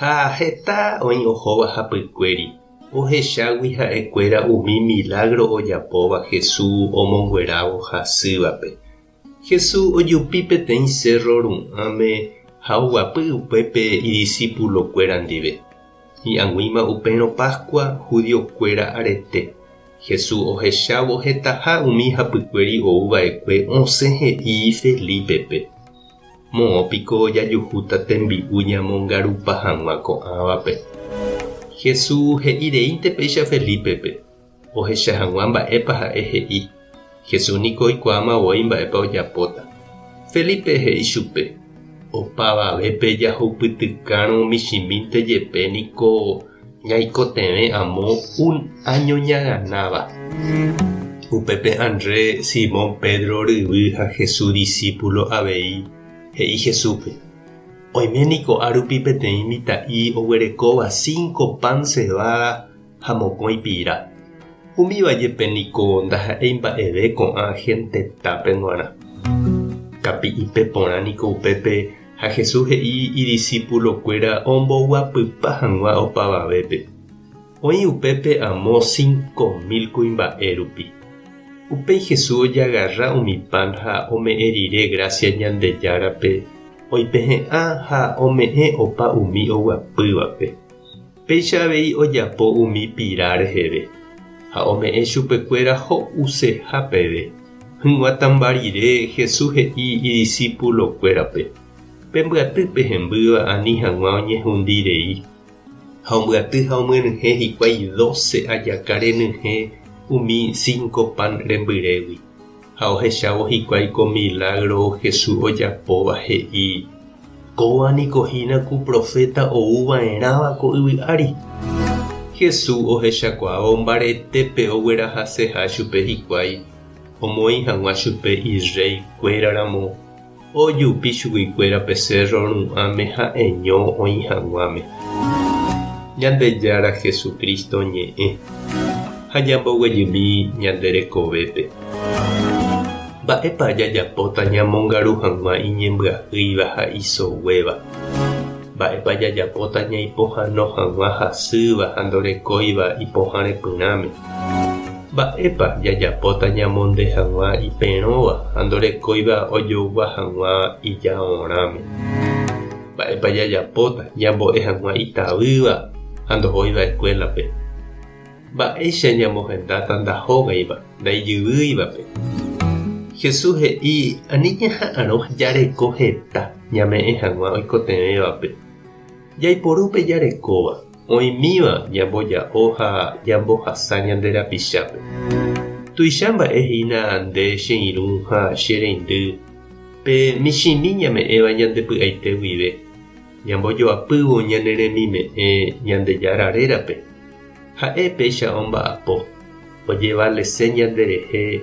Ha heta oĩ ohóva hapykuéri, ohechágui ha'ekuéra umi milágro ojapóva Jesús omonguerávo hasývape. Jesús ojupi peteĩ sérro ru'ãme ha oguapy upépe idisipulokuéra ndive. Hi'ag̃uíma upérõ Páskua judiokuéra arete, Jesús ohechávo hetaha umi hapykuéri ou va'ekue osẽ he'i Felípepe. Moõ piko jajuhúta tembi'u ñamongarupa hag̃ua ko'ãvape? Hesu he'i reínte péicha Felípepe, ohecha hag̃ua mba'épa ha'e he'i. Hesu niko oikuaáma voi mba'épa ojapóta. Felípe he'i chupe, Opavavépe jahoupytykárõ michĩmínte jepe niko Ñaikotevẽ amo un áño ñaganáva. Upépe André, Simón Pedro ryvy ha Jesús disípulo avei, he'i Jesúspe, Oime niko árupi peteĩ mitã'i oguerekóva cinco pan cebada ha mokõi pira. Umíva jepe niko ndaha'éi mba'eve ko'ã hénte tápe g̃uarã. Kapi'ipe porã niko upépe Ha Jesús he'i idisipulokuéra omboguapypa hag̃ua opavavépe. Oĩ upépe amo cinco mil kuimba'e rupi. Upéi Jesús ojagarra umi pan ha ome'ẽ rire grásia Ñandejárape, oipehe'ã ha ome'ẽ opa umi oguapývape. Péicha avei ojapo umi pira reheve, ha ome'ẽ chupekuéra ho'useha peve. Hỹgua tãmba rire, Jesús he'i idisipulokuérape, Pembyaty pe hembýva ani hag̃ua oñehundi rei. Ha ombyaty ha omyenyhẽ hikuái doce ajaka renyhẽ umi cinco pan rembyrégui. Ha ohechávo hikuái ko milágro Jesús ojapóva, he'i, Kóva niko hína ku proféta ou va'erãva ko yvy ári. Jesús ohechakuaávo mbaretépe oguerahaseha chupe hikuái omoĩ hag̃ua chupe irréi kuéraramo. Ojupi chuguikuéra pe cérro ru'ãme ha'eño oĩ haguãme Ñandejára Jesucristo ñe'ẽ ha ñamboguejymi ñande rekovépe. Mba'épa jajapóta ñamongaru haguã iñembyahýiva ha isoguéva? Mba'épa jajapóta ñaipohano haguã hasýva ha ndorekóiva ipohãrepyrãme? Mba'épa jajapóta ñamonde hag̃ua iperõva ha ndorekóiva ojougua hag̃ua ijaorãme? Mba'épa jajapóta ñambo'e hag̃ua itavýva ha ndohóiva eskuélape? Mba'éicha ñamohendáta ndahógaiva, ndaijyvýivape? Jesús he'i ani ñaha'arõ jareko heta ñame'ẽ hag̃ua oikotevẽvape. Jaiporu pe jarekóva, oĩmíva ñamboja'o ha ñambohasa ñande rapichápe. Tuicha mba'e hína nde che irũ ha che reindy, pe michĩmi ñame'ẽva ñande py'aite guive, ñambojoapývo ñane remime'ẽ Ñandejára rérape. Ha'e péicha omba'apo, ojevalese ñanderehe